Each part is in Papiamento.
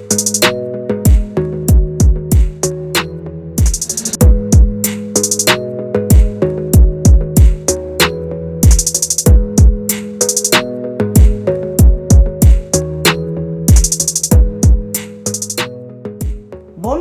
Bon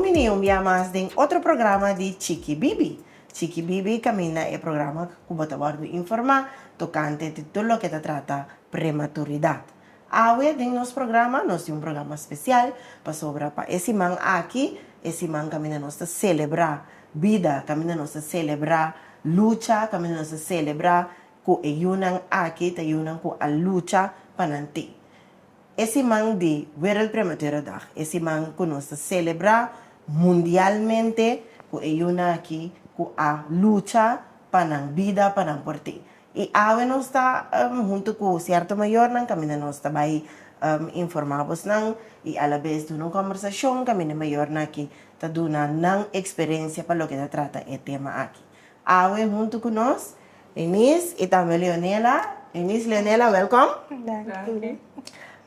bini un bia mas den otro programa di Chiki Bibi. Chiki Bibi caminda e programa cu bo ta wordo informa tocante di tur loke ta trata prematuridad. Awe den nos programa nos tin un programa special pasobra pa e siman aki e siman kaminda nos ta celebra bida, kaminda nos ta celebra lucha, kaminda nos ta celebra cu e yunan aki ta yunan cu a lucha pa nan tin e siman di Wereld Prematura Dag, e siman cu nos ta celebra mundialmente cu e yunan aki cu a lucha pa nan bida, pa nan por tin. I awe nos ta huntu ku sierto mayornan kaminda nos ta bai informá bos nan i alabes duna un kombersashon kaminda mayornan aki ta duna nan eksperensia pa loke ta trata e tema aki. Awe huntu ku nos Eunice i tambe Leonela. Eunice, Leonela, wèlkòm. Danki.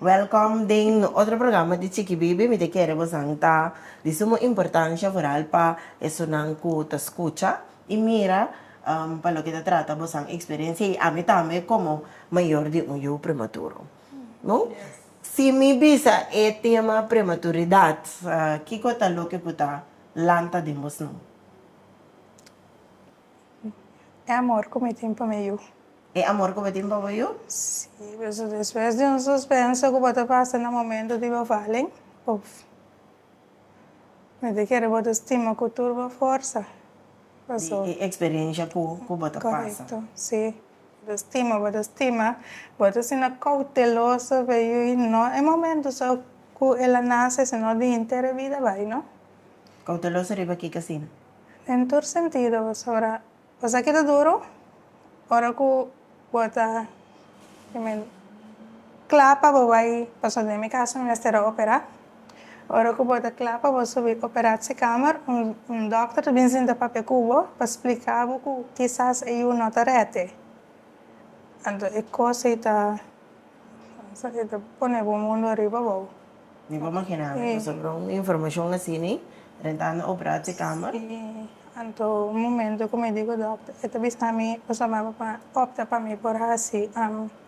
Wèlkòm den no otro programa di Chikibibi. Mi ta kere bosnan ta di sumo importansha foral pa esunnan ku ta skucha i mira. Pa loke ta trata bosan experiencia y ami tambe como mayor di un yu prematuro. Si mi bisa e tema prematuridad kico ta loke cu ta lanta den bo sno? E amor cu mi tin pa mi yu. E amor cu bo tin pa bo yu? Si, despues di un suspenso cu bo ta pasa na momento di bo valen of. Mi ta kere bo ta stima ku tur bo forsa. Paso. Di e eksperensha ku bo ta pasa. Korekto, si. Bo ta stima, bo ta stima. Bo ta asina kouteloso pa e yu i no e momentu so ku el a nase sino di henter e bida bai, no? Kouteloso riba kiko asina? Den tur sentido, pasobra. Cosa ki ta duro ora ku bo ta kla pa bo bai paso den mi kas mi mester a opera ora ku bo ta kla pa bo subi operashe kamer un dokter ta bin sinta papia ku bo pa splika bo ku kisas e yu no ta rete anto e kos ei ta pone bo mundu ariba bo. Ni por makina mi paso por un informacion asini rentando operar te cama. Si, anto un momento cu mi di cu doctor, e ta bisa mi paso mi aba pa opta pa mi por haci,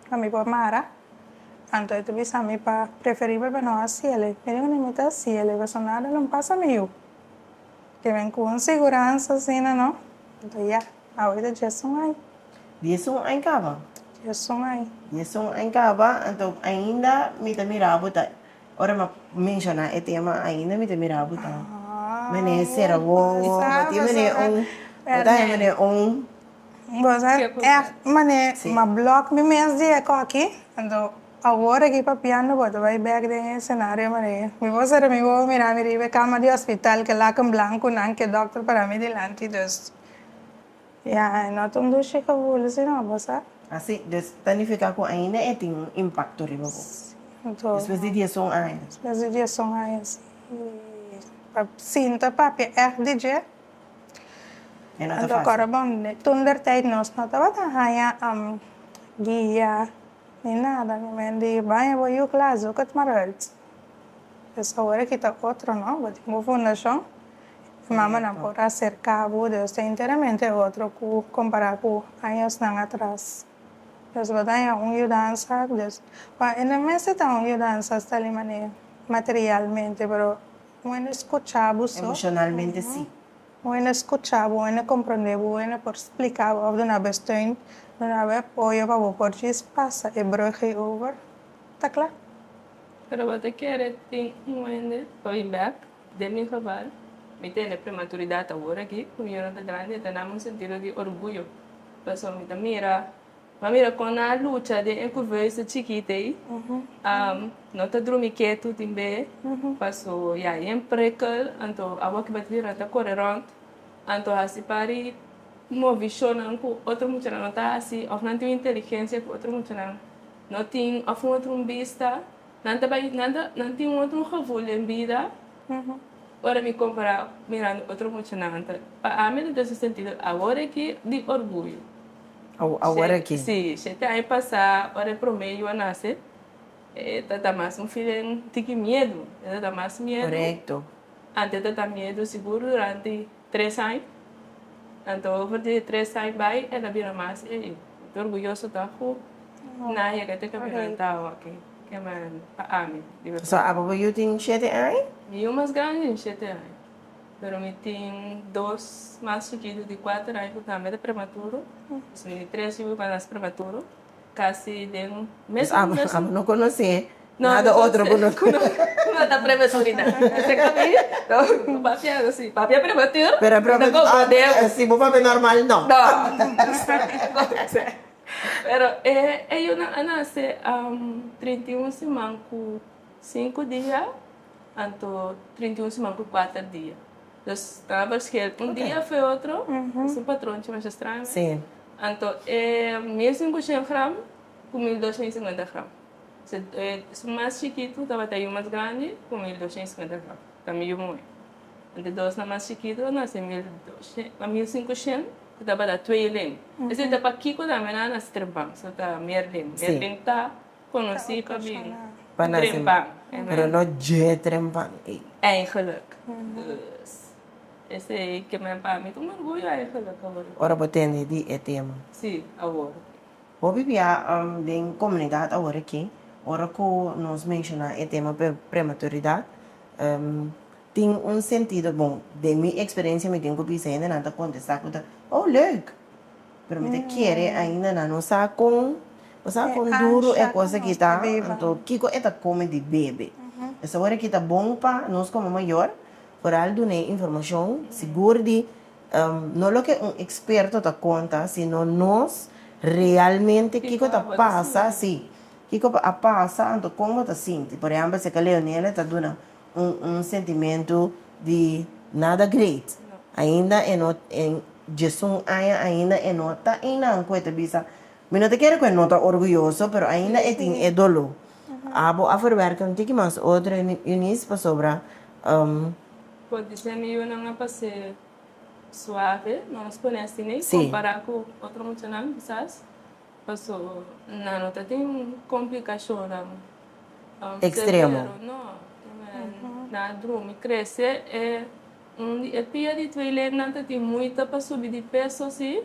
pa mi por mara, anto e ta bisa mi pa preferibel pa no haciele. Mi di cu ni mi ta haciele paso nada lo pasa mi yu. Te ven cu un siguransa asina no, anto ya. Awor djes un aña. Djes un aña kaba. Djes un aña. Djes un aña kaba, anto ainda mi ta mira bo ta, ora mi a menshona e tema ainda mi ta mira bo ta menecer awor, bo ta tin mene un, bo ta haña mene un. Bo sa echt mane mi a block mi mes di e koki, anto awor aki papiando bo ta bai bek den e scenario mane mi wou sera mi wou mira mi riba e kama di hospital, ke laken blanco nan, ke doctor parámi dilanti, dus. Ya, e no ta un dushi cu hulu si no bo sa. Así, dus ta nifica cu ainda e tin un impacto riba bo. Sí. Despues di dieson aña. Despues di dieson aña, sí. Y pa sinta papia echt di dje. E no ta fácil. Anto ahora bon, toentertijd nos no tabata haña guia ni nada. Mi mende baña bo yu klas, zoek het maar uit. Pues ahora kita otro, no? Bo tin bo fundacion. E mamanan por a serká bo Dios ta enteramente otro ku kompará ku añosnan atras. Dios lo daña un yudansa, Dios pa ende mester ta un yudansa asta li manera materialmente, pero un hende skuchá bo so, un hende skuchá bo, un hende komprondé bo, un hende por spliká bo òf duna bo esteun, duna bo e apoyo pa bo por djis pasa e brùghe over, ta kla. Pero bo ta kere tin un hende pa bin bèk? Den mi geval, mi tene prematuridad awor aki cu mi yona ta grandi, e ta dami un sentido di orguyo, pasobra mi ta mira, mi a mira con nan a lucha den e curveus ta chikit ey, no ta drumi ketu tin be, paso ya e yen prikkel, anto awor cu batidi nan ta core rond, anto hasi pari movishonan cu otro muchanan no ta hasi, of nan tin un inteligencia cu otro muchanan no tin, of un otro un bista. Nan ta bai, nan ta, nan tin un otro gevoel den bida ora mi compara mirando otro muchanan antes. Pa ami lo ta haci sentido awor aki di orguyo. Awor aki. Si, shete aña pasa ora e prome yu a nace, e ta ta mas un feeling tiki miedu, e ta ta mas miedu. Corecto. Ante ta ta miedu sigur durante. tres aña, anto over di e tres aña bai el a bira mas e ta orguyoso ta ku nan yega te kaminanta awaki ke men pa ami di berdad. So abo bo yu tin shete aña? Mi yu mas grandi tin shete aña, pero mi tin dos mas chikitu di kuater aña ku tambe ta prematuro, dus mil i tres yu bai pa nas prematuro. Casi den mesmo mesmo. Pues amo, amo no conoci nada otro cu no. Cu no ta prematurida. Seca mi, no, cu papia no si. Papia prematur, pero ta con bodeu. Si bo papia normal, no. No. Pero e yunan a nace trinta y un siman cu cinco dia, anto trinta y un siman cu cuater dia. Nos a parskea un dia fu e otro, es un patron chi masha straño. Sí. Anto e mes un bushel gram cu mil doshen y cincuenta gram. So e su mas chikitu tabata yu mas grandi cu mil doshen y cincuenta gram, tambe yu moe. Anto e dos nan mas chikitu nan ser mil doshen, a mil cincushen cu tabata twe len. Esei ta pa kico tambe nan a striban, so ta mier len. Mier len ta. Conoci pa mi un trempan. Pero no dje trempan ey. Eigenlijk. Dus, ese ey ke men pa mi ta un orguyo eigenlijk awor. Ora bo tende di e tema. Si, awor. Bo pipia den comunidad awor aki, ora cu nos menciona e tema prematuridad, tin un sentido bon. Den mi experiencia mi tin cu bisa hendenan ta contesta cu ta, oh, leuk! Pero mi ta kere ainda na no sa con bo sa con duro e cosa aki ta anto kico e ta come di bebe es awor aki ta bon pa nos como mayor foral duna e informacion sigur di no loke un experto ta conta sino nos realmente kico ta pasa si kico a pasa anto con bo ta sinti por ejemplo si eka Leonela e ta duna un sentimentu di nada great ainda e no diesun aña ainda e no ta einan ku e ta bisa mi no ta kere ku e no ta orguyoso pero ainda e tin e dolo abo a ferwerka un tiki mas otro Eunice pasobra. Por di semi yunan a pase suave nos ku nesty ne kompara ku otro muchanan kisas. Paso nan no ta tin complicashonnan extremo. No, nan a drumi. Crece e un di e pia di tweelinnan ta tin muita pa subi di peso si.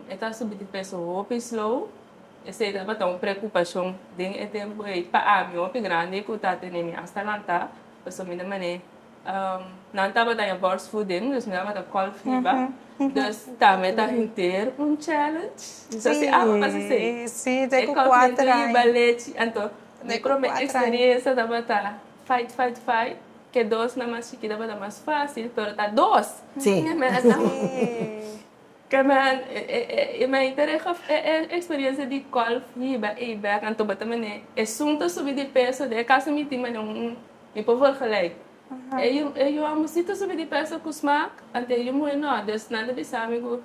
E ta subi di peso hopi slow. Esey tabata un preocupacion den e tempo ey. Pa ami hopi grandi cu ta tenemi hasta lanta, paso mi na manera. Nan tabata ya borstvoeding, dus mi tabata kòl fiba. Dus tambe ta henter un challenge. Mi sa si awa pas esei. Sí, si, e kòl henter yiba lechi. Anto, mi promé eksperiensia tabata fight, fight, fight. Ke dosnan mas chikit tabata mas fásil, pero ta dos. Sí. Ke mèn a Ke mèn i mèn i tere e eksperiensia di kòl fiba ei bèk. Anto bo ta mene esun ta subi di peso, dor a kasi mitima den un. Mi pabor gelijk. E yu amosito sobi di pesa ku smak, anto e yu muhe no, dus nan ta bisa mi ku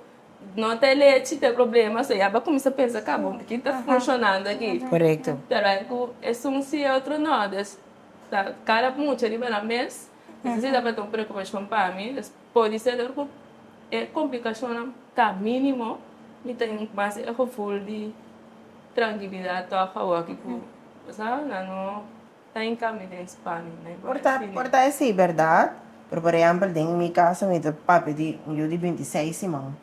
no ta e lechi ta e problema, so ya bo a kuminsá pensa ka bo, ki ta funshonando aki? Korekto. Pero ai ku esun si e otro no, dus ta kada mucha riba nan mes, entonces e tabata un preokupashon pa mi, dus pudi ser dor ku e komplikashonnan ta minimo, mi tin mas e gevul di trankilidat tog awor aki ku bo sa, nan no. ta en cami den Spanje, no hay por a fini. Por ta esi berdad, pero por ehempel den mi caso mi ta papia di un yu di binti seis siman,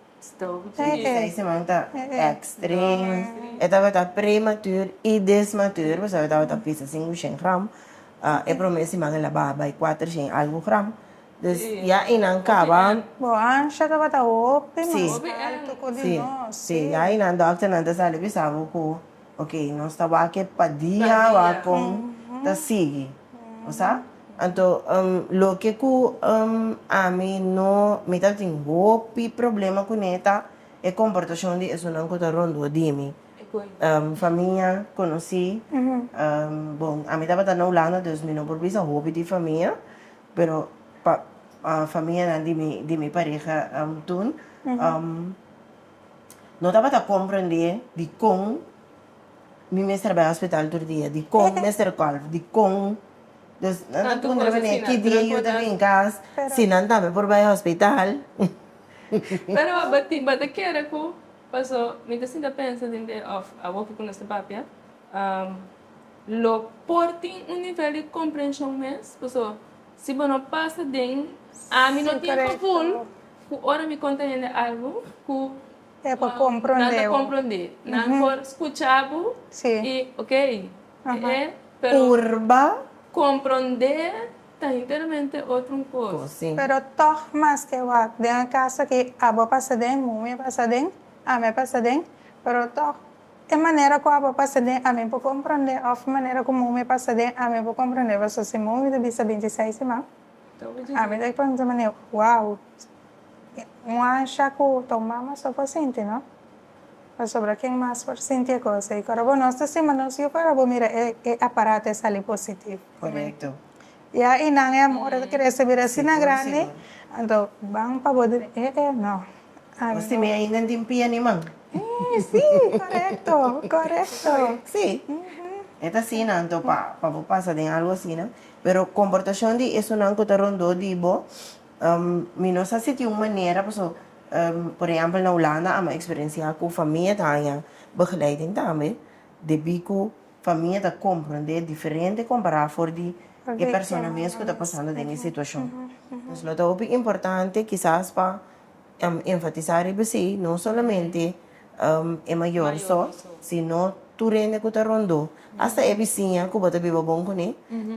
binti seis siman ta extrem, e tabata prematur y desmatur, pasobra e tabata pisa sin ocien gram, e prome siman el a baha bay cuatrocientos y algo gram, dus ya eynan caba, Bo ansha tabata hopi mas alto cu di nos, si, si, ya eynan doctornan ta sali bisa bo cu. Ok, nos ta wake pa dia wak con ta sigui. Bo sa? Anto, um, loke cu, um, ami no, mi ta tin hopi problema cune ta e comportacion di esunnan cu ta rondó di mi. Um, famia, conoci, um, bon, ami tabata na Hulanda, dus mi no por bisa hopi di famia, pero pa, uh, famianan di mi, di mi pareha, um, toen, um. No tabata komprendé dikon mi mester a bai hospital tur dia, dikon mi mester a kòl, dikon. Dus nan ta pregunta pa mi ki dia yu ta bin kas, si nan tambe por bai hospital. Pero bo tin bo ta kere ku paso mi ta sinta pensa den e òf awoki ku nos ta papia lo por tin un nivel di komprenshon mes paso. Si bo no pasa den ami no tempo ful cu ora mi conta hende algo cu nan ta comprende, nan por scucha bo y ok e pero comprende ta hinteramente otro cos. Pero tog mas ke wak den e casa aki abo a pasa den, momi a pasa den, ami a pasa den pero tog E manera ku Abba pasa den ami por komprondé òf manera ku Mumi pasa den ami por komprondé? Pasobra si Mumi ta bisa binti seis di man, ami ta pensa manera, Wow! Un ansha ku ta un mama so por sinti, no? Pasobra ken mas por sinti e kos ei? Ku Arobo nos ta stima nos, yo ku Arobo mira e aparato e sali positivo. Korekto. I a i nan e amor el kere sibi asina grandi anto ban pa bo di e e no a mi no e nan tin pia ni man e si korekto korekto si e ta asina anto pa pa bo pasa den algo asina pero komportashon di esunnan ku ta rondó di bo mi no sa si tin un manera paso por ehèmpel na Hulanda a mi a eksperensiá ku famia ta haña begeleiding tambe debí ku. Famia ta komprendé diferente kompará for di e persona mes ku ta pasando den e situashon. Entonces lo ta hopi importante kisas pa enfatisá riba esei, no solamente e mayor so, sino tur hende ku ta rondó, hasta e bisiña ku bo ta biba bon kuné,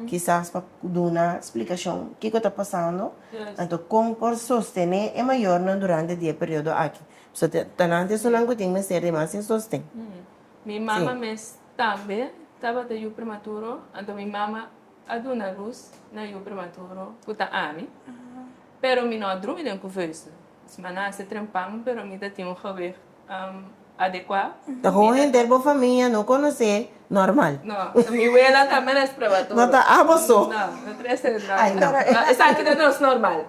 kisas pa duna splikashon kiko ta pasando, anto kon por sostené e mayornan durante di e periodo aki. Pasobra ta nan esunnan ku tin mester di mas e sosten. Mi mama mes tambe tabata yu prematuro, anto mi mama a duna lus na yu prematuro ku ta ami. Pero mi no a drumi den kuveusa. Mis maná a se trempan, pero mi ta tin un gewig adekuá. Ta kon henter bo famia no konosé normal? No, mi wela tambe no es prematuro. No ta abo so. No, no trese nada. Esaki ta nos normal.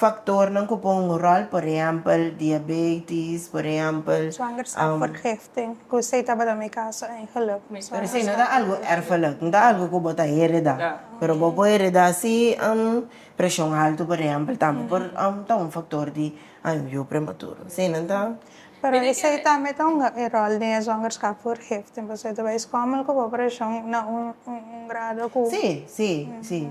Faktornan ku pon un ròl, por ehèmpel, diabetis, por ehèmpel. Swangerskap vergifting, ku esei tabata mi kaso, en geluk. Pero esei no ta algu erfelik, no ta algu ku bo ta heredá, pero bo por heredá si preshon altu, por ehèmpel, tambe por ta un faktor di yu prematuro. Esei nan ta. Pero esei tambe ta un ròl den e swangerskap vergifting, pasobra ta bai skòmel ku bo preshon na un grado ku. Sí, sí, sí.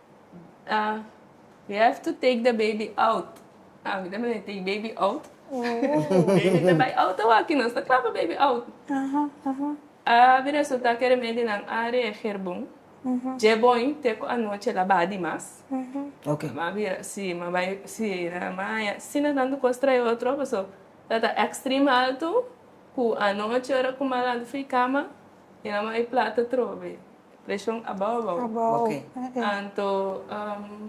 Ah, we have to take the baby out. Ah, mi ta mester take baby out. Baby ta bai out awaki, nos ta kla pa baby out. A bin resulta ku e remedionan a reager bon. Dje bon te ku anochi el a ba di mas. Oke. Mi a bira, si, mi a bai, si, nan mi a haña asina tantu kos trae otro, paso ta ta extreme alto ku anochi ora ku mi a lanta fu e kama, e nan mi a bai plata trobe. Preshon a bou a bou. Abou, e e. Anto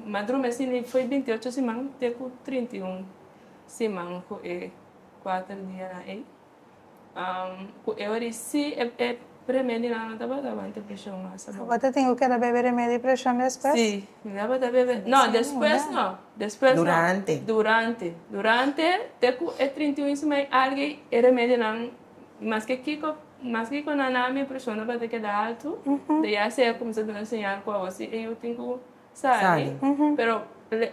Madru Messi ni foi binti-ocho siman te ku trinta-i-un siman ku e kuater dianan ei. Ku e ora ei si e e remedionan no tabata aguanta e preshon mas a bou. Tabata tin ku keda bebe remedio i preshon despues? Si, mi tabata bebe. No, despues no, despues no. Durante. Durante, durante te ku e trinta-i-un siman ei alga ei e remedionan. I maske kiko, maske kiko nan na ami, e preshon no tabata keda altu. Te ya sea ku mi ta duna señal ku awor si e yu tin ku sali. Pero le,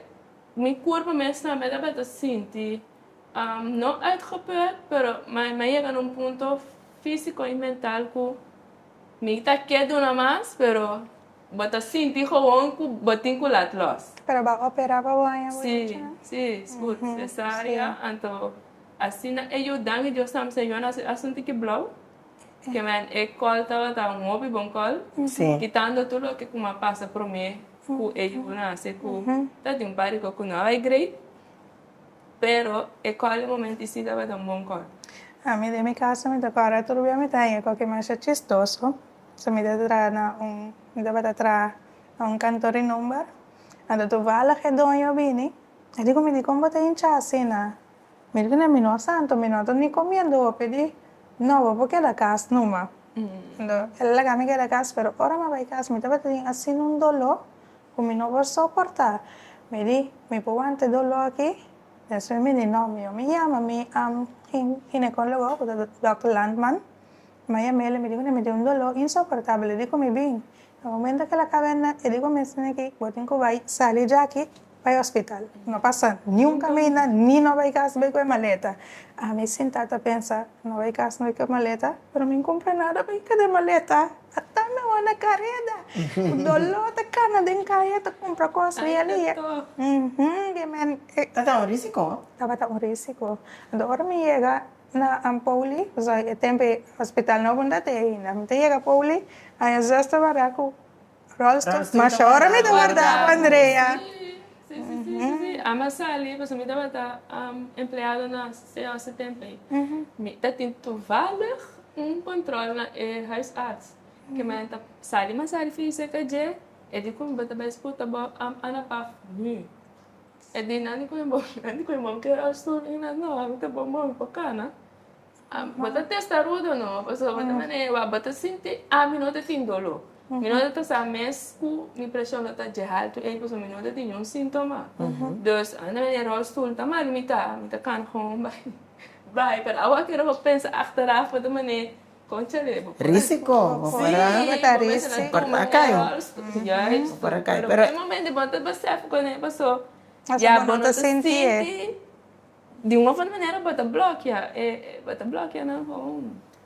mi kurpa mes tambe tabata sinti, no uitgeput, pero mi a yega na un punto físiko i mental ku mi ta ke duna mas, pero bo ta sinti gewoon ku bo tin ku laat lòs. Pero bo a operá pa bo anja bochi, no? Sí, sí, sgut, sesaria, anto. Asina e Jordán i Josam señor na su e asuntu ki blou, kimen e kòl tabata un hopi bon kòl, kitando tur loke ku m'a pasa promé ku e yu na hasi ku ta tin un par di kos ku no a bai grei, pero e kòl di momento i si tabata un bon kòl. A mi den mi kaso mi ta kòrda tur bia mi ta haya koke masha chistoso, so mi ta traha na un, mi tabata traha na un kantor di number, anto tuvallig e doño a bini E dico, Mi di con bo ta hincha asina? Mi di, Neh, mi no a santo, mi no a tor ni comiendo hopi di no, bo por keda cas numa. Ento, el a laga mi keda cas, pero ora mi a bai cas, mi tabata tin asina un doló cu mi no por soporta. Mi di, Mi por wanta e doló aki? Despues mi di, No, mi yoma yama mi ginecologo, cu ta Dòkter Landman. Mi a yama el, mi di cu neh, mi tin un doló insoportabel. E di cu mi, Bin, Na momento kel a kabenda e di bo mes nan aki bo tin ku bai sali dja aki bai hospital no pasa niun kaminda ni no bai kas bai ku e maleta ami sinta ta pensa no bai kas no bai ku e maleta pero mi kumpra nada bai kada e maleta ata mi wou na kareda ku dolo ta kana den kaya ta kumpra kos bai ali uhumm biamen tabata un risiko tabata un risiko ora mi yega Na Ampouli, zo'i e tempe hospital no bunda te ainda. Mi ta yega Pouli, aña zes ta warda ku rolstoel. Masha ora mi ta warda ku Andrea. Ami a sali pasobra mi tabata empleado na COC e tempe. Mi ta tin toevallig un control na e huisarts. Ke manera mi ta sali masari fisica dje, e di ku mi bo ta bai sputa bo Ana Paf nu. E di nan di cu e bom, nan di cu e bom kier a stubi y nan no, ami ta bon mobi pa cana, bo ta testarudo no, pasobra bo ta mira e wak, bo ta sinti ami no ta tin dolo, mi no ta sa mes cu mi presion lo ta dje haltu ey pasobra mi no ta tin niun sintoma, dus ami ta mira e rolstoel ta mal, mi ta cana con un bai, bai, pero awa kier abo pensa achteraf bo ta mira. Risiko bo para kai. Bo para kai pero. Asa bo no ta sinti e.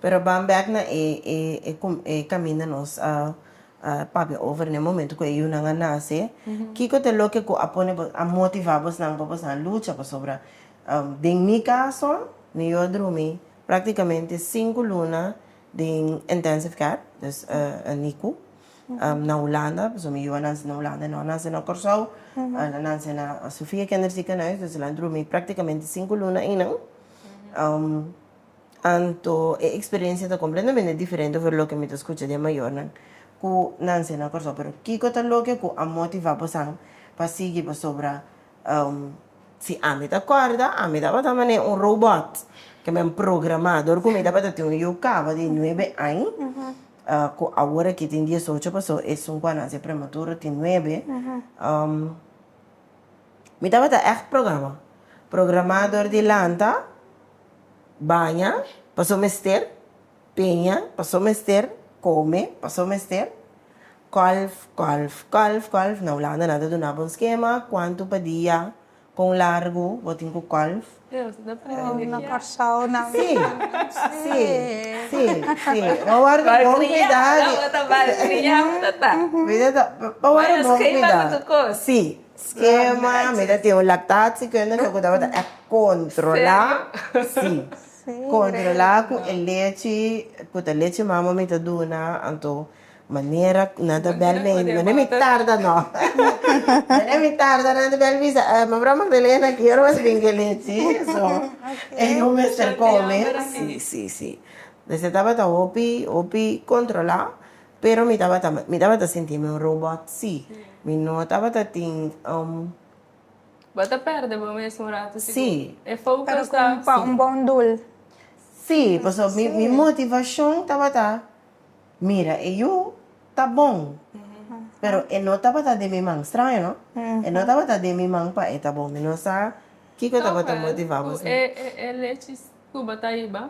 Pero bam bek na e caminda nos a papia over na e momento cu e yunan a nace kico ta loke cu a pone bo a motiva bosnan pa bosnan lucha pasobra den mi caso mi yo a drumi Práktikamente sinku luna den intensive care, dus NICU, na Hulanda, pasobra mi yuwa nan nase na Hulanda e no a nase na Kòrsou, nan nase na Sofia Kinderziekenhuis, dus nan drumi práktikamente sinku luna einan, anto e eksperensia ta kompletamente diferente over loke mi ta skucha di e mayornan ku nase na Kòrsou, pero kiko ta loke ku a motivá bosan pa sigui? Pasobra Si ami ta kòrda, ami tabata manera un robòt ku men programa dor ku mi tabata tin un yu kaba di nuebe aña ku awor aki tin diesocho pasó e sinku a nase prematuro tin nuebe mi tabata ègt programa, programa dor di lanta, baña, pasó mester Peña paso mester, come paso mester, Kolf, kolf, kolf, kolf, na Hulanda nan ta duna bo un skema, kuantu pa dia, kon largu bo tin ku kolf. Aw, na Kòrsou nan. Si, si, si, si, pa wòrdu bon kuidá di. Malkriá, nan bo ta malkriá, bo ta ta. Mira ta, pa wòrdu bon kuidá. Maya skema ku tur kos. Si, skema, mi ta tin un laktat, si kende loke ta bo ta e kontrolá. Serio. Si. Controla cu e lechi cu ta lechi mama mi ta duna, anto manera nan ta bel mi, manera mi tarda no, manera mi tarda nan ta bel bisa, eh, Mevrouw Magdalena ki ora wens brinca e lechi, so e yu mester come, si, si, si, desha tabata hopi, hopi controla, pero mi tabata, mi tabata sinti mi un robot, si, mi no tabata tin. Bo ta perde bo mes un rato si bo e focus ta. Pero como pa un bon doel. Si, pasobra mi mi motivacion tabata mira e yu ta bon pero e no tabata den mi man, straño no? E no tabata den mi man pa e ta bon, mi no sa kico tabata motiva bo si. Cu e e lechi cu bo ta hiba.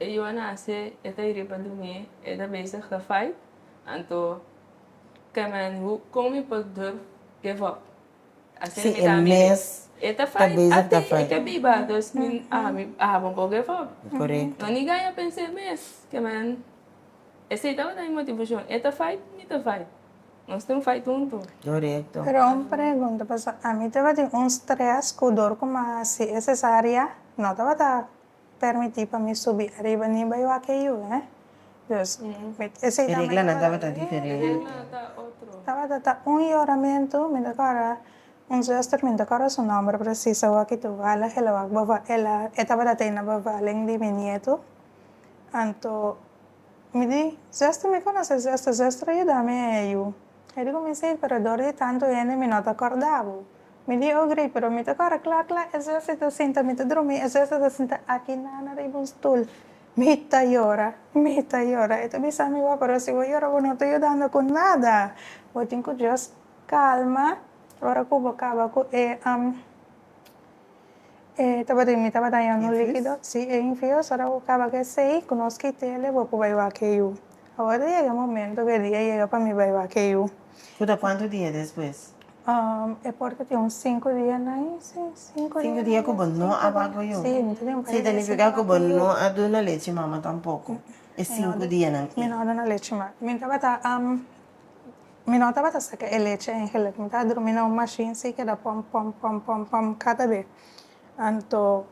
E Johanase e ta hiri pa dumi, e ta bezig ta fight, anto Carmen hu kon mi por durf give up? Asina mi ta mira e, e ta fight ate e ke biba, dus mi ami a bon por give up, no ni gaña pens'e mes, Carmen esei tabata mi motivashon, e ta fight mi ta fight, nos tin fight huntu. Pero un pregunta, pasobra ami tabatin un stres ku dor ku mi a hasi e cesaria, no tabata Permití pa mi subi ariba niba e wak e yu, he? Dus, mi ta. Esei tabata. E reglanan tabata diferente. Tabata ta un yoramentu, mi ta kòrda un zuster, mi no ta kòrda su nòmber presis awo aki tu hala helawak bova, el a, e tabata tei na bevalen di mi nietu, anto. Mi di, Zestra mi conoce Zestra, Zestra yuda mi e eyu. E di cuminsa ir pero dor di tanto hende mi no ta corda bo. Mi di, Oh Grey, pero mi ta corda cla cla e Zestra ta sinta, mi ta drumi e Zestra ta sinta aki na na riba un stoel. Mi ta yora, mi ta yora. E ta bisa mi, Wou, pero si bo yora bo no ta yudando cu nada. Bo tin cu just calma ora cu bo caba cu e. E tabata mi tabata haña un likido si e infieles ora bo kaba ke sei ku nos kitele bo por bai wak yu awor ta yega momento ku e dia yega pa mi bai wak yu Ku ta kuantu dia despues? e por ta tin un sinku dia na ai si sinku dia Sinku dia ku bo no a wak yu si mi ta tin pa yega si wak yu significa ku bo no a duna lechi mama tampoko e sinku dianan i. mi no a duna lechi mami mi tabata am. Mi no tabata saca e leche engelec. Mi taba drumi na un machine si ke da pom, pom, pom, pom, pom cata be. Anto,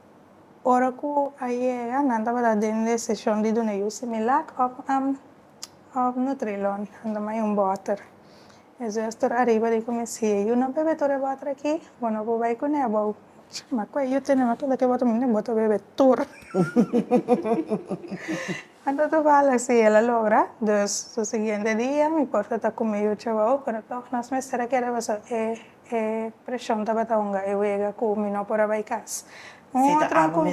ora cu a yega, nan tabata den decision di duna yu Similac of of Nutrilon. Nan dama yu un boter. E zuster ariba di cu mi si e yu no bebe tur e boter aki, bo no por bay cune abou. Chama cu e yu tene, no tula ke boter, mi no e boter bebe tur. Anta toval así el a logra, dus su siguiente dia mi por ta ta cu mi yu cebao pero toch nos mester a keda paso e e presion tabata hunga e wega cu mi no por a bay cas. Un otro un con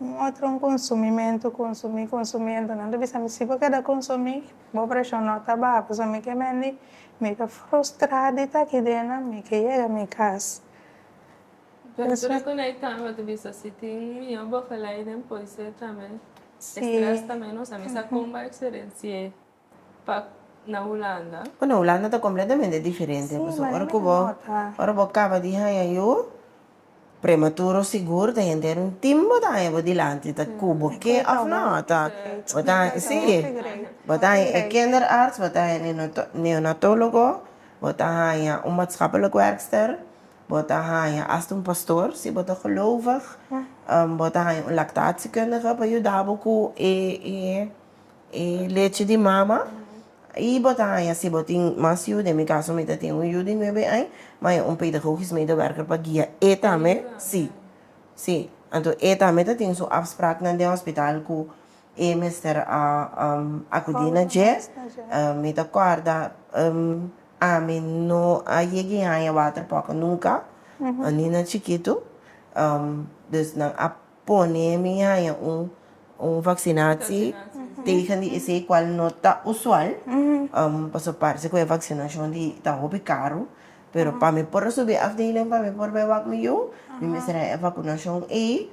un otro un consumimento consumi consumi entonan ta bisa mi si bo keda consumi bo presion no ta baha paso mi ke mendi mi ta frustra di ta aki dena mi ke yega mi cas. Pintura cu na e cama tu bisa si tin mijo bocalai den poiser tambe. Si. Stress tambe nos a misa comba experenciae pa na Hulanda. Oh, na Hulanda ta completamente diferente. Si, Pasobra ora cu bo, manera di nota. ora bo caba di haya yu, prematuro sigur ta henter un team bo ta haya bo dilanti ta cu bo ke of no. Ta, bo ta, si, bo ta haya e kinderarts, bo ta haya e neonatologo, bo ta haya un maatschappelijk werkster. Bo ta haña asta un pastor, si bo ta gelovig. Bo ta haña un lactatiekundige pa yuda bo ku e e lechi di mama. I bo ta haña, si bo tin mas yu, den mi kaso mi ta tin un yu di nuebe aña, mi haña un pedagogisch medewerker pa guia e tambe. Si. Si. Anto e tambe ta tin su afspraknan den hospital ku e mester akudí na dje. Mi ta kòrda Ami no a yega i haña water poco nunca, ni na chikitu. Dus nan a pone mi haña un vaccinaci tegen di esey, cual no ta usual, pasobra parse cu e vaccinacion di ta hopi caro. Pero pa mi por a subi e afdeling, pa mi por bay wak mi yu, mi mester haña e vacunacion ey.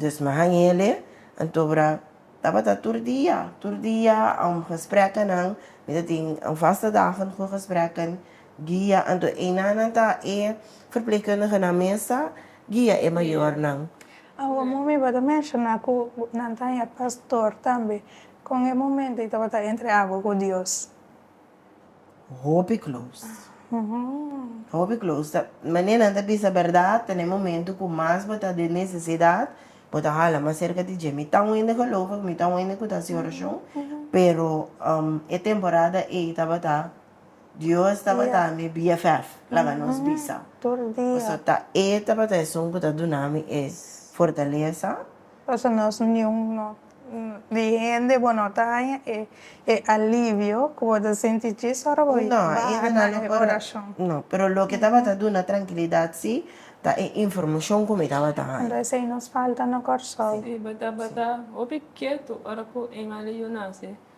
Dus mi haña el'e, anto bra. Tabata tur dia, tur dia um gesprekkennan, mi ta tin um vaste dagen goe gesprekken guia anto einanan ta e verpleegkundigenan mes ta guia e mayornan. Awo mo mi ba ta menshoná ku nan ta haña pastor tambe kon e momento i tabata entre awo ku Dios. Hopi close. Hopi close. Ta, mane nan ta bisa berdad, ta ne momento cu mas bo ta den necesidad, bo ta hala mas cerca di Dje. Mi ta un hende gelovig, mi ta un hende cu ta haci oracion, pero e temporada ey tabata, Dios tabata mi BFF, laga nos bisa. Tur dia. Pasobra ta e tabata esun cu ta dunami e fortaleza. Pasobra nos niun no. Di hende bo no ta haña e alivio ku bo ta sinti djis ora bo baha na e orashon? No, pero loke tabata duna trankilidat si ta e informashon ku mi tabata haña. Entonces ei nos falta na Kòrsou. Si, bo tabata hopi ketu ora ku Emily yu nase.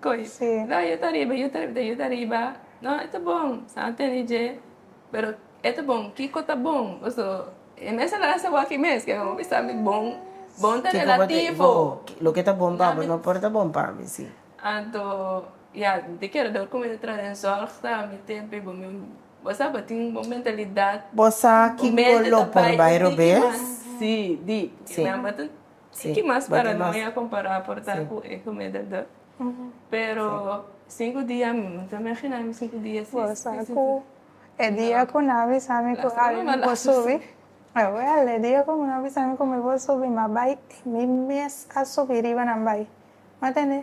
Coi. Sí. No, yo ta riba, yo ta riba, ta yo ta riba. No, e ta bon, sa a tene dje. Pero e ta bon, kiko ta bon? Paso, e mes a la hasi awaki mes, ke amo bisa mi bon, bon ta Kiko bo te, relativo. bo, loke ta bon pa Nami- bo no por ta bon pa mi, sí. Anto, ya, mi ta kere dor kume ta traha den zòrg sa, mi tempe bo, mi, bo sa bo tin bo mentalidat. Bo sa Bo kiko mente lo ta por bai bai e tiki robes? mas, sí, deep. Sí. Mi mente ta Sí, Tin ki mas para tin mas. noi a compará por ta Sí. cu e comida dor. Pero cinco dia mi no ta imaginá mi cinco dia sin Bo sa cu e dia cu nan a bisa mi cu Lastima Allen no por malazo. subi, jawel, e dia cu nan a bisa mi cu mi por subi, ma bai, mi mes a subi riba nan bai. M'a entendé?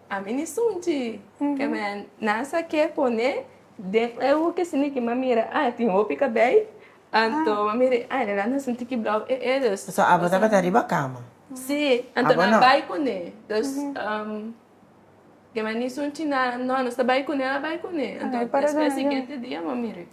A mi ni sunchi ke me nan sa ke pone den eu ke sini ki ma mira a e tin hopi kabei anto ma mira a e nan ta sinti ki blau e e dus So abo tabata riba kama. si anto Abo nan no. bai kune dus ke me ni sunchi nan no nos ta bai kune nan a bai kune anto Ai para despues dona yo. siguiente dia ma mira.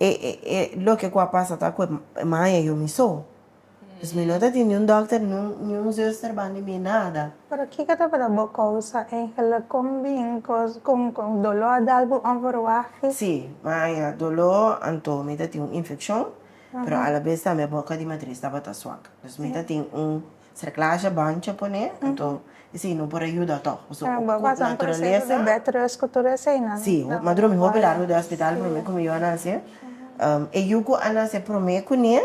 E e loke ku a pasa ta ku e maya yu mi so. Pues mi no ta tin niun dòkter ni un zuster bandi mi nada. Pero kiko ta para bo kousa Angel kon bin kos kon kon doló a dal bo onverwacht? Si, maya, doló anto mi ta tin un infekshon pero alabes tambe boka di matris tabata swak. Pues mi ta tin un Sera clasha bancha pone anto esey no por a yuda to paso cu naturalesa si ma drumi hopi largo den hospital prome cu mi yu a nace e yu cu a nace prome cu nie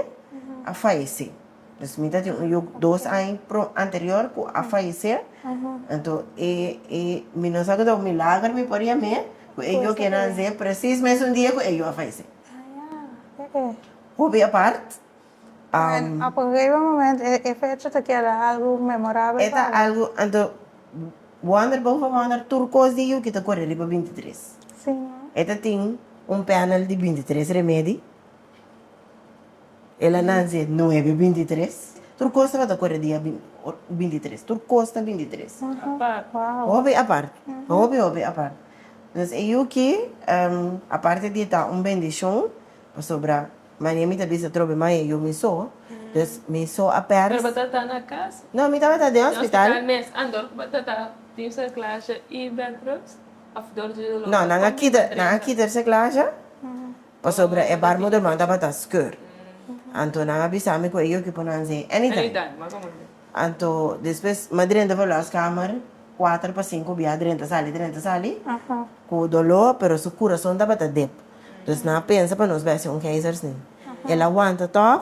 a fayece pues mi ta tin un yu dos aña anterior cu a fayece anto e e mi no sa cu ta un milagro mi por yame cu e yu que nace precis mes un dia cu e yu a fayece hopi apart. Bueno, a por heba moment e fecha ta keda algu memorabel pa bo? Algu anto wonder boven wonder tur kos di yuki ta kore riba binti tres. Sí no. E ta tin un panel di binti tres remedi, el a nanse nuebe binti tres, tur kos tabata kore dia binti tres, tur kos ta binti tres. Apart. Wow. Hopi apart, hopi hopi apart. Entonces e yuki aparte di e ta un bendicion pasobra. Maria mi ta bisa trobe mai e yu mi so, dus mi so a pers. Pero bo ta ta na kas? No, mi tabata den hospital. Den hospital mes, and dor ku bo ta ta tin cerclaje y bedrust of dor di dolor? No, nan a kita, nan a kita e cerclaje pasobra e baarmoederman tabata skeur. Anto nan a bisa mi ku e yu ki por nan si anytime. Anytime, ma komo así? Anto despues mi a drenta pa e los kamer, kuater pa sinku bia a drenta sali, drenta sali, ku dolor pero su kurason tabata dep. Dus nan a pensa pa nos bèstia un keizers ni. El a wanta tòg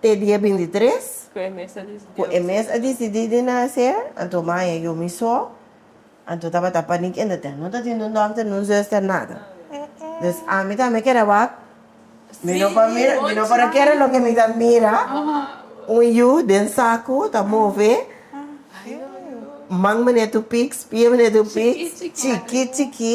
te dia bintitres ku e mes a disidí di nase, anto Maya yu mi so, anto tabata panik en deten. No tatin un dòkter, ni un zùster, nada. Dus ami tambe kera wak, mi no por mira, mi no por a kere loke mi ta mira, un yu den saku ta move, man meneer tupiks, pie meneer tupiks, chikí chikí,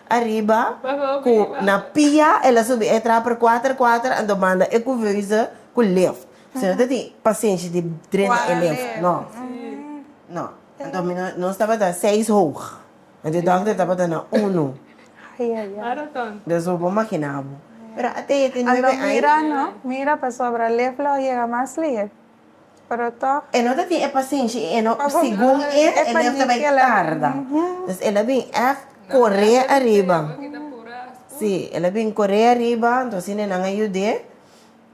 Ariba ku na pia el a subi e traper kuater kuater anto manda e kuveuze ku lift. Si no ta tin pasenshi di drenta e lift no. No. Anto mi no nos tabata seis hoog anto e dokter tabata na uno. Des bo por makina bo. Pero ate e tene nuebe aña. Anto mira no mira pasobra lift lo yega mas lihe. Pero tog. E no ta tin e pasenshi i e no segun e e lef ta bai tarda. Entonces el a bin èf koré ariba. Sí, el a bin koré ariba, entonces asina e nan a yud'é.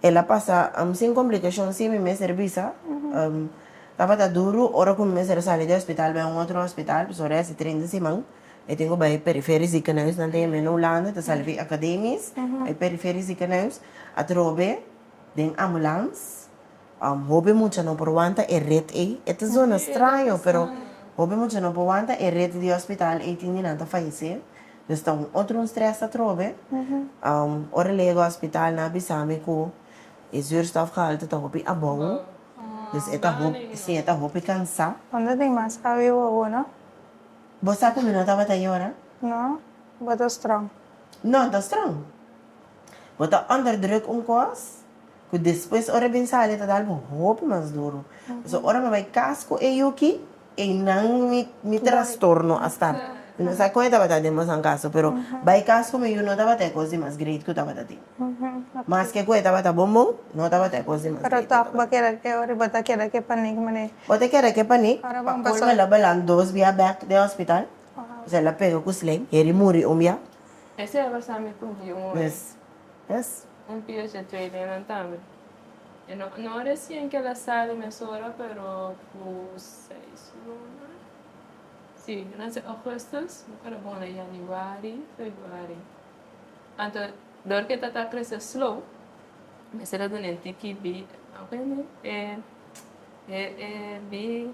El a pasa sin komplikashon sin mi mester bisa. Tabata duru ora ku mi mester a sali di hospital bai un otro hospital, pasobra ora e hasi treinta siman. E tin ku bai periferi ziekenhuis nan ta yama e na Hulanda, ta salifi akademis, bai periferi ziekenhuis atrobe. Den ambulans. Hopi mucha no por wanta e rit ei. E ta zona straño, pero hopi mucha no por wanta e rit di hospital ei tin di nan ta fayecé. Nos ta un otro un stress atrobe. Ora lega hospital nan a bisa mi cu e zuurstofgehalte ta hopi abou. Dus e ta hopi, sí, e ta hopi cansá. Unda tin mas awe wowo, no? Bo sa cu mi no tabata yora? No, bo ta strong. No, ta strong. Bo ta under druk un kos ku despues ora e bin sali e ta dal bo hopi mas duru. So ora mi a bai kas ku e yuki einan mi trastorno a start. Mi no sa kon e tabata den bosan kaso pero bai kas ku mi yu no tabata e kos di mas great ku tabata tin. Maske ku e tabata bon bon no tabata e kos di mas great ku tabata tin. Pero tòg bo keda ke ora i bo ta keda ke panik manera. Bo ta keda ke panik. Pa colmo el a balan dos bia bek den hospital. Pasobra el a pega ku sling. Heri muri un bia. Esei a basa mi cumpli un hora. Yes. Yes. Un pia dje tweelinnan tambe. E no, no recien kel a sali mesora, pero cu seis luna. Si, nan sa augustus, mi ora bon na januari, februari. Anto, dor cu e ta ta crece slow, mester a dun'en tiki bi, a wini, e, e, e bi.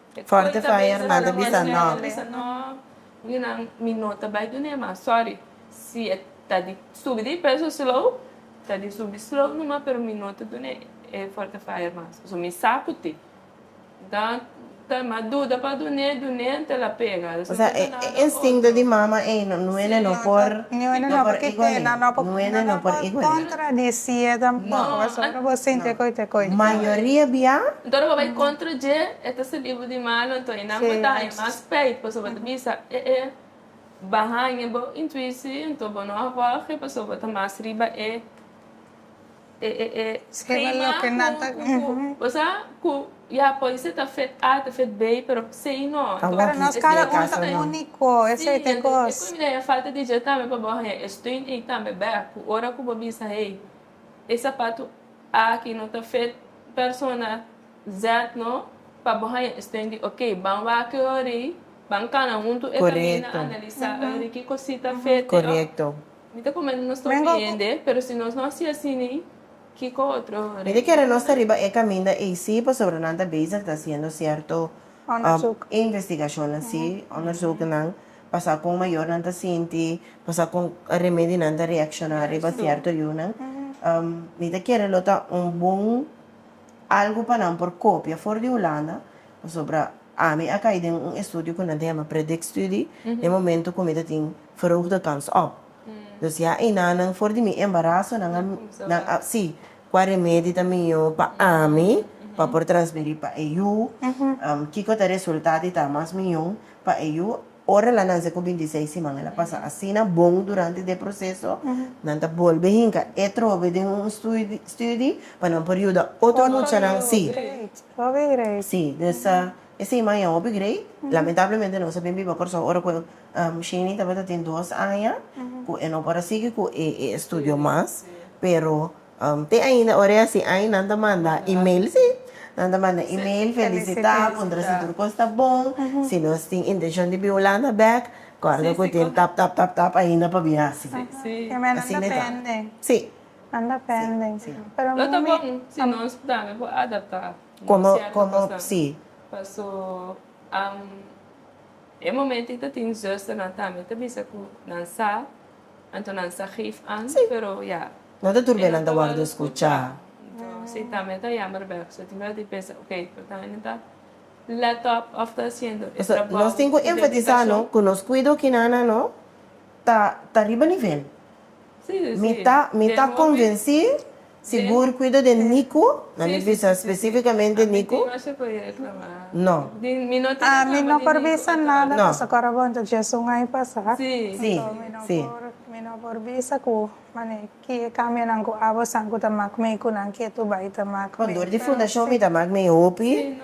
Forte faya herman ta bisa nòk. Minan mi no ta bai dun'é mas sorry si e ta di subi di peso slow ta di subi slow numa pero mi no ta dun'é e forte faya mas pasobra mi sa ku tin dan ta ma duda pa dun'é dun'é ta la pega nos no ta nada otro. Instinto di mama ey no nuene no por igolin nuene no por igolin. No mayoria bia. Nto nan bo bai kontra dje, e ta sabí bo di malu, anto e nan bo ta haña mas spijt, pasobra bo ta bisa, e e bai haña bo intuishi, anto bo no a wòrgi, pasobra bo ta mas riba e e e e skema ku ku bo sa ku ya por esei ta fet A, ta fet B, pero sei no. Pero nos kada un ta úniko, esei ta e kos. Sí, e caminda ya falta di dje tambe pa bo haña e steun ei tambe bèk, ku ora ku bo bisa, hey. E sapatu aki no ta fit persona Z no, pa bo haña e sten di ok. Ban wak e ori, ban kana huntu e kamina, analisá e ori kiko si ta fit. Mi ta kumenta nos ta ofiende, pero si nos no hasi asina, kiko otro reina? Nos ta riba e kaminda eysi pasobra nan ta bezig ta hasiendo sierto investigashonnan, sí, onderzoeknan. Pasa kon mayornan ta sinti, pasa kon remedinan ta reakshona riba sierto yunan. Mi ta kere lo ta un bon algu pa nan por kopia for di Hulanda, pasobra ami a kai den un estudio ku nan ta yama predikstudie, den momento ku mi ta tin verhoogde kans op. Dus ya einan nan for di mi embaraso nan a nan a si kua remedi ta mihó pa ami pa por transmeri pa e yu, kiko ta resulta di ta mas mihó. pa e yu, ora e lanan seco binti seis siman el a pasa asina bon durante de proceso, nan ta bolbe hinca e trobe den un studi pa nan por yuda otro muchanan si, si, dus e siman ya hopi great, lamentablemente nos a bin biba Corsou ora cu Shany tabata tin dos aña cu e no por a sigui cu e estudio mas pero. Te ainda ora e hasi ai nan ta manda email si, nan ta manda email felisitá, puntra si tur kos ta bon, si nos tin intenshon di bin Hulanda bèk, kòrda ku tin tap tap tap tap ainda pa bin hasi. Asina e ta. Si. Nan depende. Pero mi. Lo ta bon si nos tambe por adaptá nos sierto kosnan. Komo, komo, si. Paso. E momento i ta tin zusternan tambe ta bisa cu nan sa, anto nan sa geef aan, pero ya. No ta tur be nan ta worde scucha. Si tambe ta jammer bek, so tin bek di pensa, ok, por ta ene ta let up of ta haciendo e trabao. Nos tin cu enfatisa no cu nos cuido ki nana no ta ta riba nivel. Mi ta mi ta convenci. Sigur cuido de Nico. Nan mi bisa specificamente Nico? No. A mi no por bisa nada cos a cora bon ta just un ai pasa. Si, si. Mi no por bisa cu mane kie cambionan cu abo san cu ta mac mei cu nan kie tu bai ta mac mei. Dor di fundacion mi ta mac mei hopi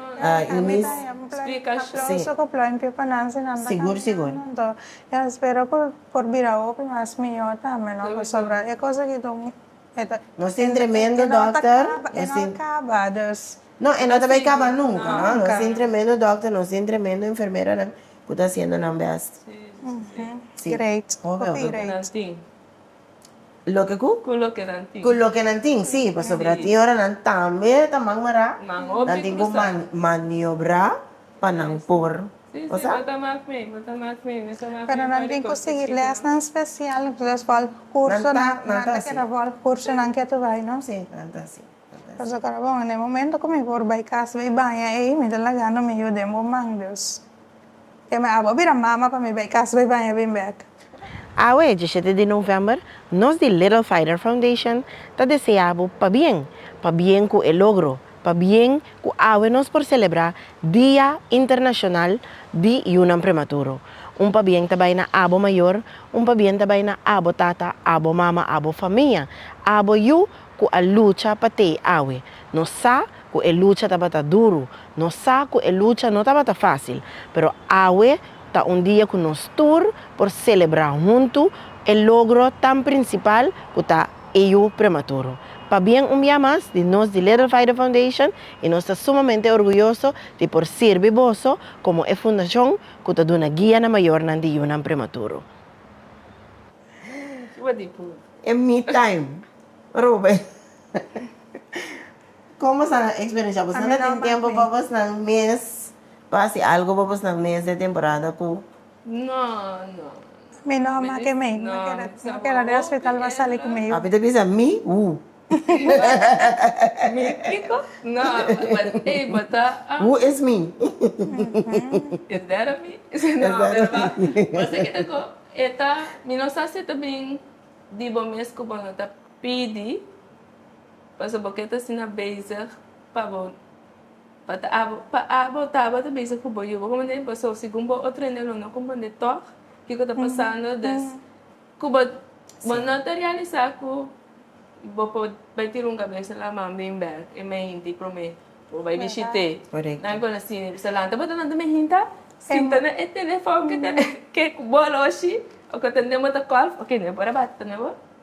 y mi. Aplauso cu pluimpio pa nan si nan ta cambiando anto yo espero cu por bira hopi mas miyor tambe no pasobra e cosa ki ta un. Nos tin tremendo dokter. E no ta kaba dus. No, e no ta bai kaba nunka. Nos tin tremendo dokter, nos tin tremendo enfermeranan ku ta hasiendo nan bèst. Si. Great. Hopi great. Loke ku? Ku loke nan tin. Ku loke nan tin, si. Pasobra tin ora nan tambe ta man mará. Nan tin ku maniobrá. pa nan por goza. Pero nan tin cu sigui lesnan special, nan ta keda volg curso nan kier ta bay, no? Si, nan ta si. Pasobra ora bo na e momento cu mi por bay casa bay baña ey, mi ta laga no mi yu den bo man, Dios. Ke mi a haga bo bira mama pa mi bay casa bay baña bim bek. Awe, dieschete di novèmber, nos di Little Fighter Foundation ta desea bo pabien, pabien ku e logro, pabien ku awe nos por selebrá Dia Internashonal di Yunan Prematuro. Un pabien ta bai na abo mayor, un pabien ta bai na abo tata, abo mama, abo famia, abo yu ku a lucha pa t'ei awe. Nos sa ku e lucha tabata duru, nos sa ku e lucha no tabata fásil, pero awe Ta un dia ku nos tur por selebrá huntu e logro tan prinsipal ku ta AU Prematuro. Pabien un bia mas di nos di Little Vaido Foundation i nos ta sumamente orguyoso di por sirbi boso komo e fundashon ku ta duna guia na mayornan di yunan prematuro. E me time. Ruben, Komo sa nan eksperensiá? Bosnan ta tin tempu pa bosnan mes? pa hasi algo pa bosnan mes de temporada cu Mi no a make mei. No keda den hospital pa sali cu mei. Papi ta bisa mi who is mi. Pa abo tabata bisa ku bo yu bo kompond'é pa so segun bo otro hende lo no kompond'é tòg kiko ta pasando des ku bo bo no ta realisá ku bo por bai tira un kabesa laman bin bèk e mei hinti promé bo bai bishit'é nan ku a na sini bisa lanta bo ta lanta mi hinta sinta na e telefòn ke ta ke ku bo a loshi o ku a tende bo ta kòl oke mi a por a bata tambe bo.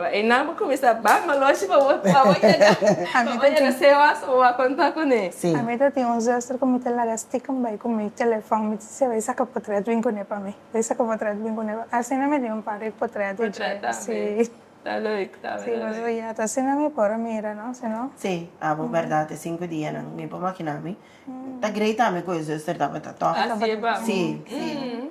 Einan bo cuminsa bak maloshi pa bo yaga pa bo yaga seo aso bo wak conta cune. A mi ta tin un zuster cu mi ta laga stikum bay cu mi telefon mi ta siza bay saca potret bin cune pa mi bay saca potret bin cune pa asina mi tin un par di potret di dje si ta leuk ta si pues oye ata asina mi por a mira no si no. Si abo berdad e cinco dia nan mi por makina mi ta great ami cu e zuster tabata toh si si.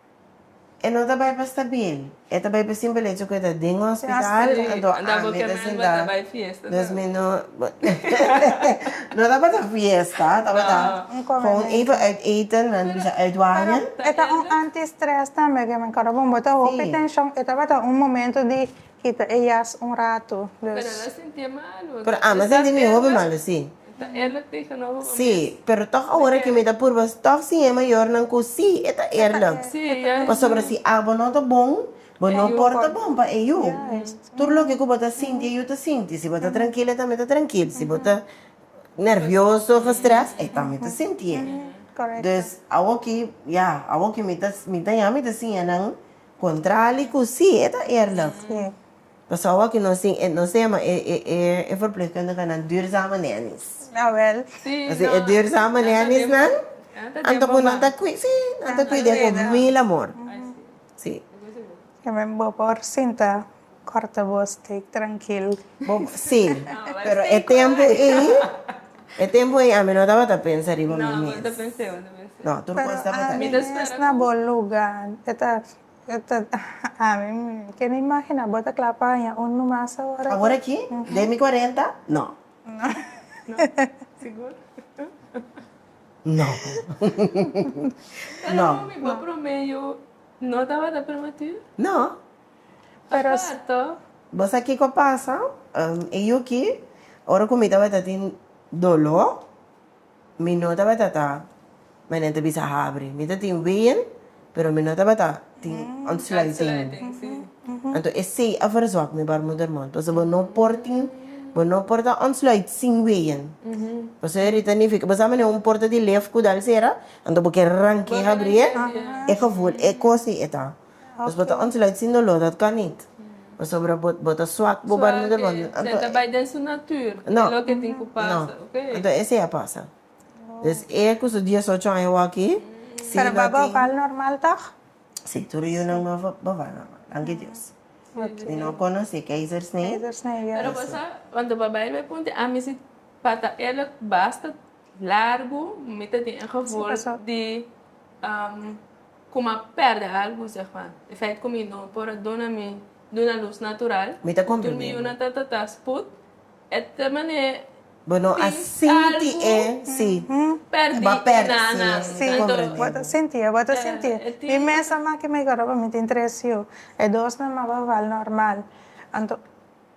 E no ta bai pa stabil, e ta bai pa simpel hecho cu e ta den un hospital anto ami ta sinta nos mi no no tabata fiesta tabata gewoon even uit eten nan dibisha uit waña. E ta un anti stress tambe, ke men karo bon bo ta hopi tension e tabata un momento di Kita e jas un ratu dus. Pero ama sentí mi hopi malu sí. Sí, pero tòg awor aki mi ta purba tòg sin e mayornan ku sí e ta eerlùk. Pasobra si abo no ta bon, bo no por ta bon pa e yu. Tur loke ku bo ta sinti e yu ta sinti. Si bo ta trankil e tambe ta trankil. Si bo ta nervioso òf strès e tambe ta sintié. Dus awoki ya, awoki mi ta mi ta ya mi ta siña nan. Contrali cu si, e ta eerlijk. Pasobra awa cu nos tin etnosema, e verpleegkundige nan ta duurzame nannies. Así e duurzame nannies nan, anto cu nan ta cuida, sí, nan ta cuida cu mil amor. Sí. Yo me bo por sinta. Corta voz take trankil. Sí, pero e tempo ei, e tempo ei ami no tabata pensa riba mi mes. No, tur cos tabata bien. Pero ami mes na bo luga, e ta, e ta, ami mi kende imagina bo ta kla pa haña un mas awor. Awor aki? Den mi cuarenta? No. No. No. Pero mi bo promedio no tabata prematur? No. Pero. Bo sa kiko pasa? E yu ki, ora ku mi tabata tin doló, mi no tabata ta manera ta bisa habri. Mi ta tin ween, pero mi no tabata tin ontsluiting. Anto esei a versòk mi baarmoedermon. Pasobra bo no por tin, bo no por ta ontsluit sin ween. Pasobra e rita nifika, bo sa manera un porta di lef ku dal sera? Anto bo ke ranke habrie? E kos ei e ta. Pues bo ta ontluit sin dolor dat kanit pasobra bo ta swak bo barmi de bo no ta bai den su natur e lo ke tin ku pasa ok anto ese a pasa des e ku su dies ocho aña waki si lo tin bo bal normal tog si tur yu nan bo bal normal danki dios mi no konosi keizersnee pero bo sa cuando bo bai be punti ami si pata e lo basta largu mi ta tin e favor di. Kuma perde algu, seg pa e feit ku mi no por a duna mi duna lus natural, mi ta konprende. Tur mi yuna ta ta ta sput, e ta mane Bo no a sinti e si perdi bo a perde na si nan. Si, bo ta sinti e, bo ta sinti e. Mi mes a maki migora pa mi tin tres yu, e dos nan maba wal normal. Anto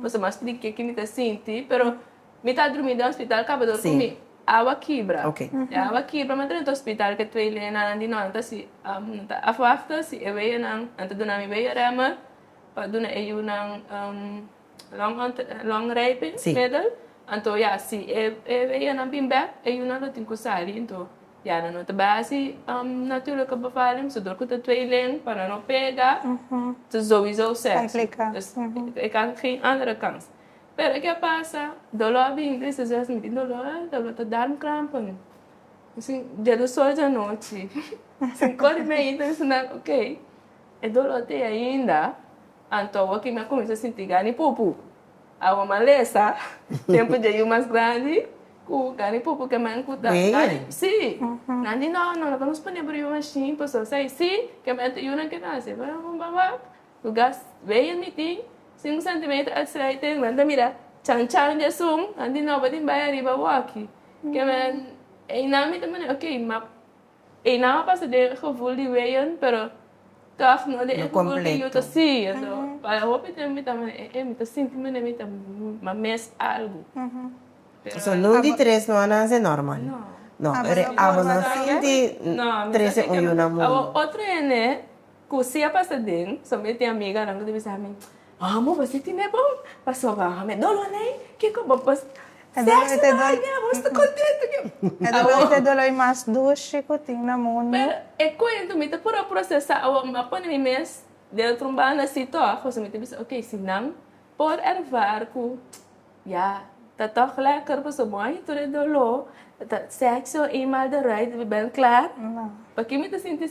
Bo sa mas di kiki mi ta sinti, pero mi ta drumi den hospital kabador cu mi awa kibra. E awa kibra mi a drenta hospital cu e twee leñanan di non ta si nan ta afwafta si e weyanan nan ta duna mi weya remmer pa duna e yunan long rijping middel. Anto ya si e weyanan bin bek e yunan lo tin cu sali. Ya nan no ta bai hasi natura ka bavalen pasobra dor ku ta tweelen pa nan no pega ta souiso sekso dus e ka haña geen andere kans pero e ke a pasa doló a bini di esaki mi tin doló ey doló ta darmi kramp pa mi bishin dia di sol dia nochi shin kore mi ayina bishin nan ok e doló ta ahi ainda anto awo aki mi a kuminsha sinti gana di pupu Awa malesa, tempu dje yu mas grandi, ku gari pupu kemen ku ta, gari, si, nan di no, no lo por nos pone por yu mashin, por so sei, si, kemen ta yunan ke nan hasi, pero rumba wak, ku gas beyer mi tin, sinku sentimeter accelerator, nan ta mira chan chan di asun, nan di no, bo tin bai ariba waki, kemen, ei nan mi ta mane, ok, ma. Einan a pasa den e gevul di Wayne, pero kaf no den e gevul ku yu ta siña. So, pa hopi tempu mi ta mira, eh, eh, mi ta sinti mi kuné mi ta mes algu. So, nun di tres no a nase normal? No. No, pero abo no sinti trese un yunan muri. Awor otro hende. Cu si a pasa den, so mi e tin amiganan cu ta bisa ami, Amo, bo si tine bon pa soba ha mi. Dolo lei? Kico bo pa sexo na haña? Amo sta contento cu e. Amo. Es e doloi mas dushi cu tin na mundo. Pero e cuento mi ta por a procesa awor, mi a pone mi mes dentro un banda si tog, pasobra mi ta bisa, ok, si nan por ervar cu ya ta tog lekker pasobra bo a hint tur e dolo, ta sexo eenmaal de ruit, bo ben klaar, No. Pakico mi ta sinti.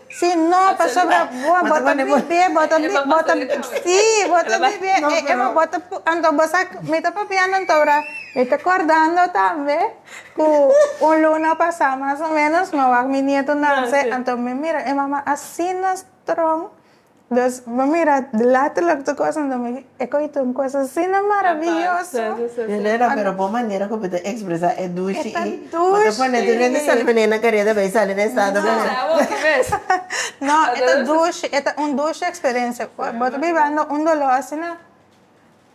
Si no pasobra bo a bota bibe bo ta bibe bo ta si bo ta bibe e bo bota pu anto bo sa mi ta papiando anto ora mi ta cordando tambe cu un luna pasa mas o menos mi wak mi nieto nase anto mi mira e mama asina strong Nos bo mira laterluk tu kos anto mi e koi tu un kos asina maraviyoso. Elena pero bo manera ku bo ta ekspresá e dushi i. E ta dushi. Bo ta pone tur hende sali benei na karieta bai sali na estado bo. Sa awor ki mes. No e ta dushi e ta un dushi eksperensia bo ta biba anto un doló asina.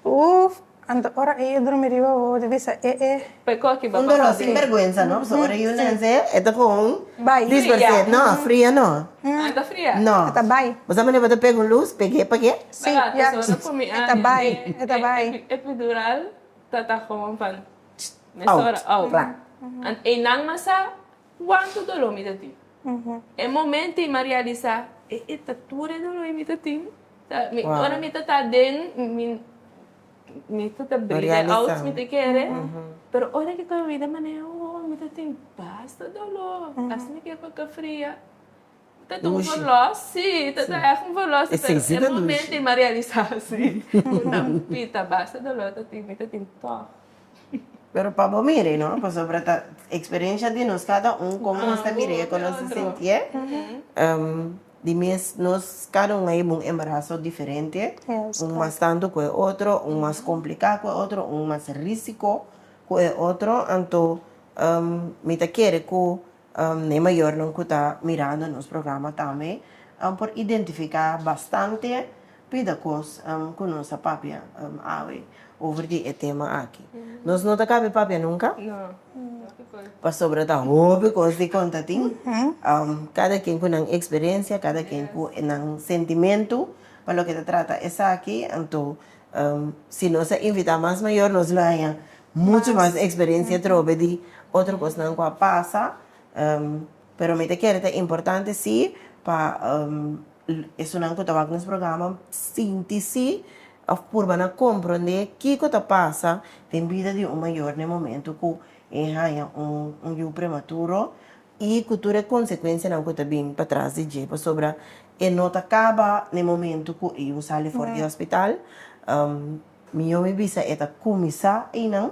Uff anto ora e yu drumi riba bo di bisa e e. P'e koki bo papá de. Sin berguensa no paso ora e yu nance e ta con disperse no a fria no. Ah e ta fria. No e ta bai. Bo sa mane bo ta pega un luz pege pake. Si ya paso cu mi ane e ta bai e ta bai. Epidural ta ta con pan mesora out. An einan masa. Cuanto dolor mi ta tin. E momento y ma realisa, e e ta tur e dolor y mi ta tin. Ora mi ta ta aden, mi ta ta breed e oats mi ta kere, pero ora ki ta mi ta maneha un hour mi ta tin basta dolor, asina ke pa ka fria. Ta dun verlos, si, ta dun echt un verlos, pero e momento i m'a realisa si ku nan pita basta dolor ta tin, mi ta tin tog. Pero pa bo mir'e no, pasobra ta eksperensha di nos kada un kon nos ta mir'e, kon nos ta sintié, di mes nos kada un a hiba un embaraso diferente, un mas tantu ku e otro, un mas kompliká ku e otro, un mas risiko ku e otro, anto mi ta kere ku. E mayornan cu ta mirando nos programa tambe por identifica bastante bida cos cu nos ta papia awe over di e tema aki. Nos no ta caba e papia nunca pasobra ta hopi cos di conta tin. Cada quien cu nan experiencia, cada quien cu nan sentimento pa loke ta trata esaki. Anto si nos a invita mas mayor nos lo haña Mucho mas experiencia trobe di otro cosnan cu a pasa pero mi ta kere ta importante si pa esunnan cu ta wak nos programa sinti si of purba na comprende kico ta pasa den bida di un mayor na e momento cu e haya un yu prematuro y cu tur e consecuencianan cu ta bini patras di dje pasobra e no ta caba na e momento cu e yu sali for di hospital. Mió mi bisa e ta kuminsá einan.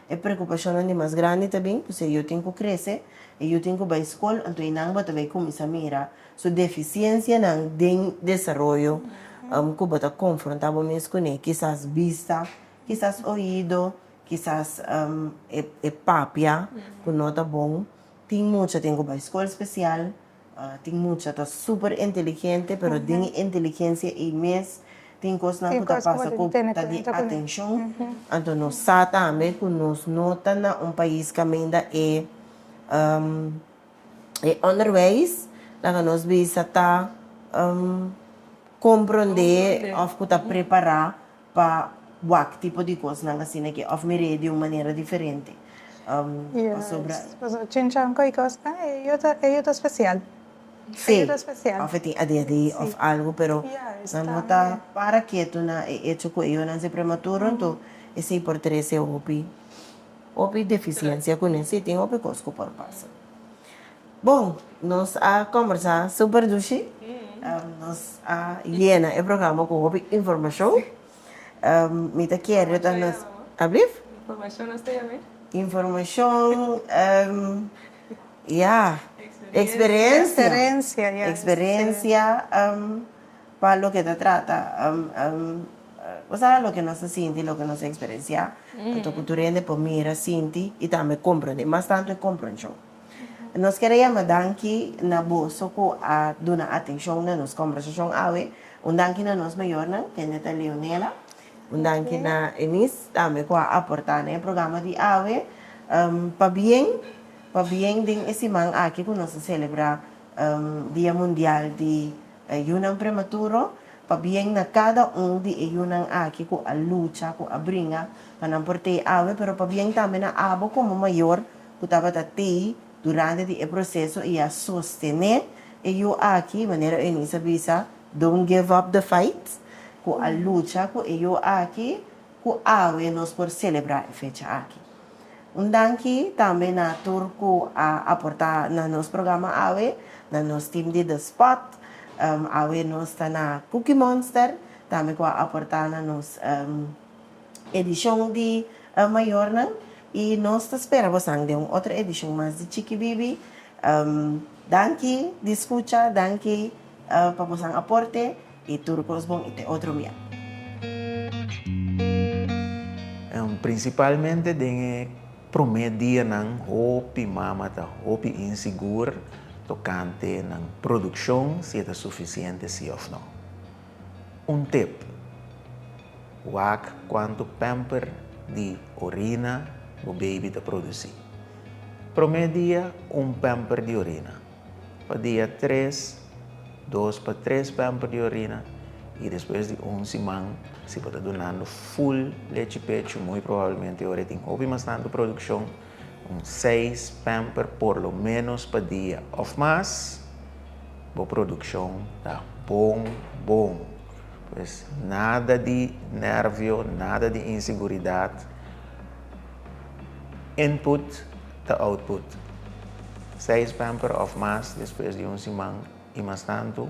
E preokupashonnan di mas grandi ta bin, pues e yu tin ku krese, e yu tin ku bai skol, anto einan bo ta bai kuminsá mira su defisiensianan den desaroyo ku bo ta konfrontá bo mes kuné, kisas bista, kisas oido, kisas e papia ku no ta bon. Tin mucha tin ku bai skol spesial, Tin mucha ta super inteligente pero den e inteligencia ei mes tin cosnan cu ta pasa cu ta di atencion, anto nos sa tambe cu nos no ta na un pais caminda e onderwijs laga nos bisa ta comprende of cu ta prepara. pa wak tipo di kosnan asina ke òf mir'é di un manera diferente. Pasobra. Yes, pasobra chinchon ku e kosnan e yu ta, e yu ta spesial. Sí, òf e tin adeha di òf algu, pero nan no ta para ketu na e echo ku e yunan ser prematuro, anto esei por trese hopi, hopi defisiensia kuné. Sí, tin hopi kos ku por pasa. Bon, nos a kombersá super dushi. Nos a yena e programa ku hopi informashon. Mi ta kere ta nos. Informashon nos ta yam'e? Ablief? Informashon nos ta yam'e? Informashon, ya. Eksperensia. Eksperensia. Eksperensia, ya. Eksperensia pa loke ta trata kusada ta loke nos ta sinti, loke nos a eksperensiá. Anto ku tur hende por mira, sinti i tambe komprondé, mas tantu e kompronshon. Nos ker a yama danki na boso ku a duna atenshon na nos kombersashon awe. Un danki na nos mayornan, kende ta Leonela. Un danki na Eunice tambe ku a aportá na e programa di awe. Pabien, pabien den e siman aki ku nos ta selebrá Dia Mundial di Yunan Prematuro, pabien na kada un di e yunan aki ku a lucha, ku a bringa pa nan por tei awe, pero pabien tambe na abo komo mayor ku tabata tei durante di e proseso i a sostené e yu aki, manera Eunice a bisa, Don't give up the fight, ku a lucha ku e yu aki, ku awe nos por selebrá e fecha aki. Un danki tambe na tur ku a aportá na nos programa awe, na nos tim di The Spot, awe nos ta na Cookie Monster tambe ku a aportá na nos. edishon di Mayornan i nos ta spera bos nan den un otro edishon mas di Chiki Bibi. Danki di skucha, danki pa bosnan aporte i tur kos bon i te otro mia. Prinsipalmente den e promé dianan hopi mama ta hopi insigur tokante nan produkshon si e ta sufisiente si òf no. Un tip, Wak kuantu pamper di orina bo baby ta produsí. Promé dia un pamper di orina, pa dia tres dos pa tres pamper di orina i despues di un siman si bo ta dunando ful lechi pechu muy probablemente ora e tin hopi mas tantu produkshon. un seis pamper por lo menos pa dia of mas, bo produccion ta bon bon. Pues nada di nervio, nada di inseguridad, input ta output. Seis pamper of mas despues di un siman y mas tanto.